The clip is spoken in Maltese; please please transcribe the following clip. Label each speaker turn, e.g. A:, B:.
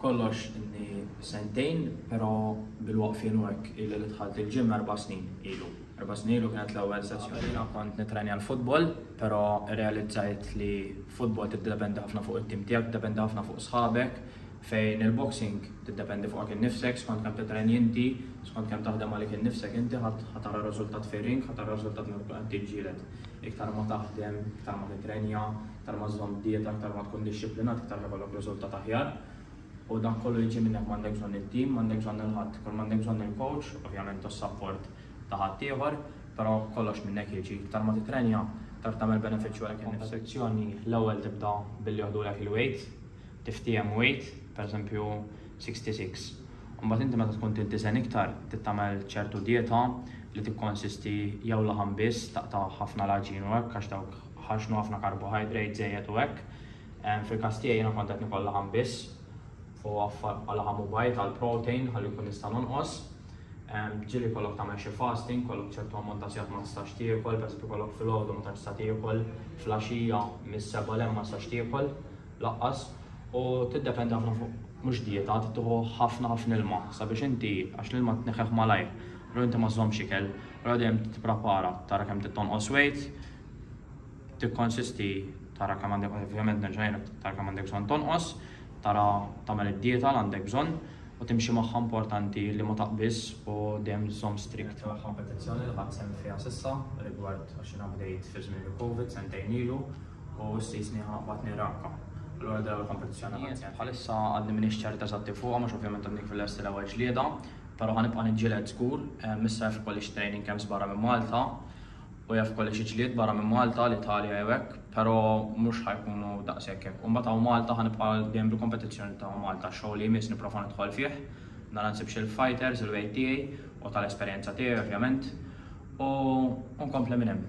A: B'kollox ilni sentejn, però bil-waqfien u hekk illi li dħalt il-gym erba' snin ilu. Erba' snin ilu kienet l-ewwel sessjoni. Jiena kont nittrenja l-futbol, però rrealizzajt li futbol tiddependi ħafna fuq it-tim tiegħek, tiddependi ħafna fuq sħabek, fejn il-boxing tiddependi fuqek innifsek, skont kemm titrenji inti, skont kemm taħdem għalik innifsek inti ħa tara r-riżultat fir-ring, ħa tara r-riżultat meta tkun qed tiġġieled. Iktar ma taħdem, iktar ma titrenja, Iktar ma żżomm dieta, iktar ma tkun dixxiplinat, iktar ma jkollok riżultat aħjar. U dak kollu jiġi minnek, m'għandek bżonn it-tim, m'għandek bżonn lil ħadd. Kull m'għandek bżonn hu l-coach, ovvjament u s-sapport ta' ħaddieħor, però kollox minnek jiġi. Iktar ma titrenja, iktar tagħmel benefiċċju għalik innifsek. F'kompetizzjoni l-ewwel tibda billi joħdulek il-weight, tiftiehem weight, pereżempju 66. Imbagħad inti meta tkun trid tiżen iktar, trid tagħmel ċertu dieta li tikkonsisti jew laħam biss, taqta' ħafna l-għaġin u hekk għax dawk ħaxnu ħafna karbohajdrate żejjed u hekk. Fil-każ tiegħi jiena kont qed nikol laħam biss u għaffar bħal laħam u bajd għal protein ħalli nkun nista' nonqos. Ġieli jkollok tagħmel xi fasting, kollok ċertu ammont ta' sigħat ma tistax tiekol, pereżempju kollok filgħodu ma tantx tiekol, flaxija mis-seba' l ma tistax tiekol laqqas u tiddependi ħafna fuq mhux dieta, tittuħu ħafna ħafna ilma sabiex inti għax l-ilma tneħħeħ malajr, u inti ma żżommx ikel, u dejjem tipprepara tara kemm tittonqos weight, tikkonsisti tara kemm għandek ovvjament nerġa' ngħidlek tara kemm għandek bżonn tonqos, tara tagħmel id-dieta li għandek bżonn u timxi magħha importanti li ma taqbiż u dejjem żomm strikt magħha. Kompetizzjoni li ħadd sehem fiha s'issa rigward għax jiena bdejt fi żmien il-Covid sentejn ilu u ssisni batni ragħka. Allura dil-ewwel kompetizzjoni li ħadd sehem. Bħalissa għadni m'iniex ċert eżatti fuqha għax ovvjament għadni kif lest l-ewwel ġlieda, però ħa nibqa' niġġieled żgur. Issa jaf ikolli xi training camps barra minn Malta Hu jaf kolli xi ġlied barra minn Malta, l-Italja jew hekk, pero' mhux ħa jkunu daqshekk hekk. U mbagħad hawn Malta ħa nibqa' dejjem bil-kompetizzjoni ta' Malta. X-show li jmiss nipprova nidħol fih, nara nsibx il-fighters, il-weight tiegħi u tal-esperjenza tiegħi ovvjament, u nkompli minn hemm.